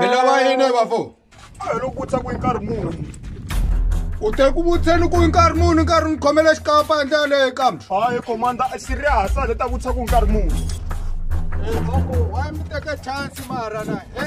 milava yini vafo loko ku tsaku nkarhi muni u te ku vutseni ku nkarhi muni nkarhi ni khomela xikapa endle yaleyo kambe hayi komanda serious a le ta vutisa ku nkarhi muni eh, wa mi teka chance mara na e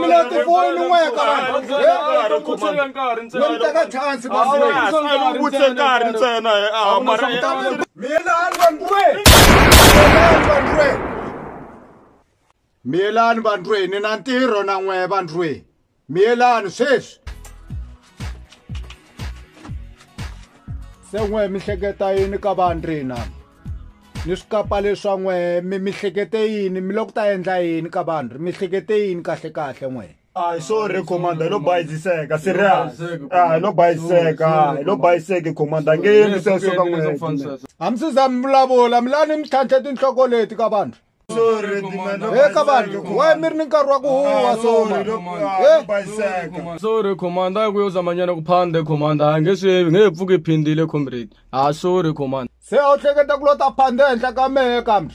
mina tifoni ni n'we karhiutshela nkarhi ntsena ni teka chance basiutshela nkarhi ntsena mina andwe miyelani vandlwe ni na ntirho na n'we vandlwe miyelani sweswi se n'we mi hleketa yini ka vandri na ni swi kapa leswa n'we mi mihlekete yini mi loko ta endla yini ka vanhu ri mihlekete yini kahle kahle n'wena Ay, sorry commander lo bayiziseka serious ah lo bayiseka lo bayiseke commander ngeni sweswo ka n'wina hambi sizami vulavula mi lani mi tlhantlhe tinhloko leti ka vanhu Hey, kabali, why miri ni nkarhi wa ku huwa soma? Hey, sorry commander a ku yo zamanyana ku phande commander a nge swi yevi nge he pfuki phindile comrade a sorry commander se a wu hleketa ku lota phande henhla ka mehe kambe.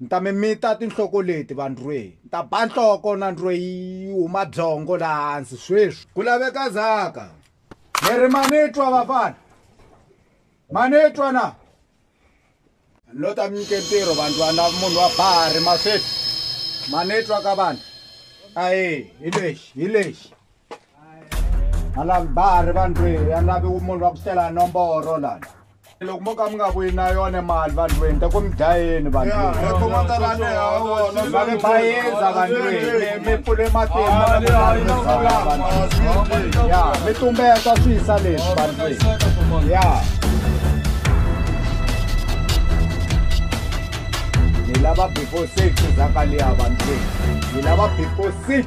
ni ta mi mita tinhloko leti vandrwei ni ta ba nhloko na ndrwei yi huma byongo laha hansi sweswi ku laveka zaka mi ri ma ni twa vafana ma ni twa na ni lo ta mi nyike ntirho vandlwana munhu wa bahari masweti ma ni twa ka vanhu ae hi lexi hi lexi alambari vandlwini ya lavi munhu wa ku sela nomboro lana loko mo ka mi nga vuyi na yona mali vandlwini te ku mi dlayeni vandlwinivavi bayiza vandlwini mi pfule matimba ya mi tumbeta swi yisa leswi vandlwini ya ni lava before six zakaliya vandlwini ni lava before six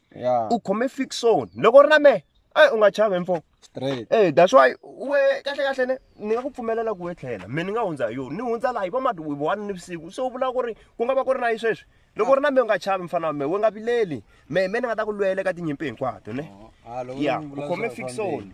u khome fixon loko u ri na mehe eyi u nga chavi mfo e that's why we kahle kahle ne ni nga ku pfumelela ku we tlhela me ni nga hundza hi yona ni hundza laha hi vamati one ni vusiku se u vula ku ri ku nga va ku ri na yi sweswi loko u ri na me u nga chavi mfana wa me we nga vileli me me ni nga ta ku lwela ka tinyimpi hinkwato ne ya u khome fixon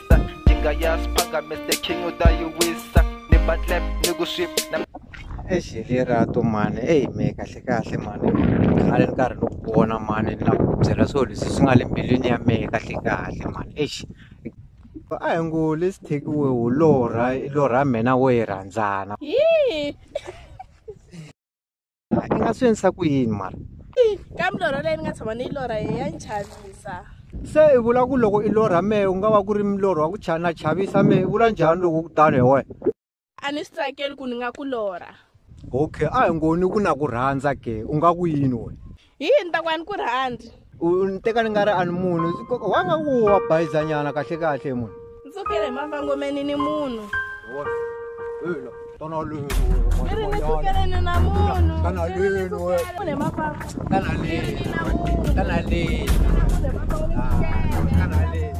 sa ndingayazi phakame the king utayiwisa ni batlep ni ku swip exi lerato mani eyi me kahle kahle mani khale ni karhi ni ku vona mani na ku byela swilo leswi swi nga le mbilwini ya mehe kahle kahle mani exi a hi ngo lesi thekiwe wu lorha lorha mina wo yi rhandzana i nga swi endlisa ku yini mara ka milorho leyi ni nga tshama ni yi lorha hi ya ni chavisa se i vula ku loko i lorha mehe u nga va ku ri milorho wa ku chana chavisa mehe i vula njhani loko ku tani hi wena a ni swi tsakeli ku ni nga ku lorha okay a hi ngoni ku na ku rhandza ke u nga ku yini wena hi yini ta ku a ni ku rhandzi u ni teka ni nga ri a ni munhu wa nga ku wa bayizanyana kahle kahle munhu ni tsukile hi mavangomeni ni munhu kana lenu na munhu kana lenu kana lenu kana lenu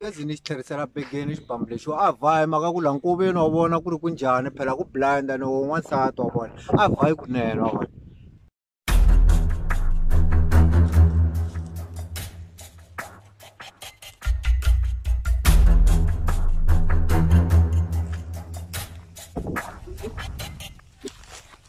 gezi ni xi tlherisela begeni xibambu lexi a vhayi maka ku la nkoveni wa vona ku ri ku njhani phela ku blind ni wo n'wansati wa vona a vhayi kunene wa vona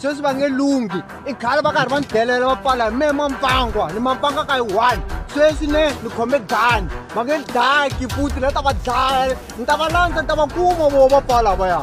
sweswi va nge lunghi i khale va karhi va ni delela va pfala hi mehe mampangwa ni mampanga ka yi one sweswi ne ni khome dani va nge ni daki futi ni ta va dlaya ni ta va landza ni ta va kuma vo va pfala va ya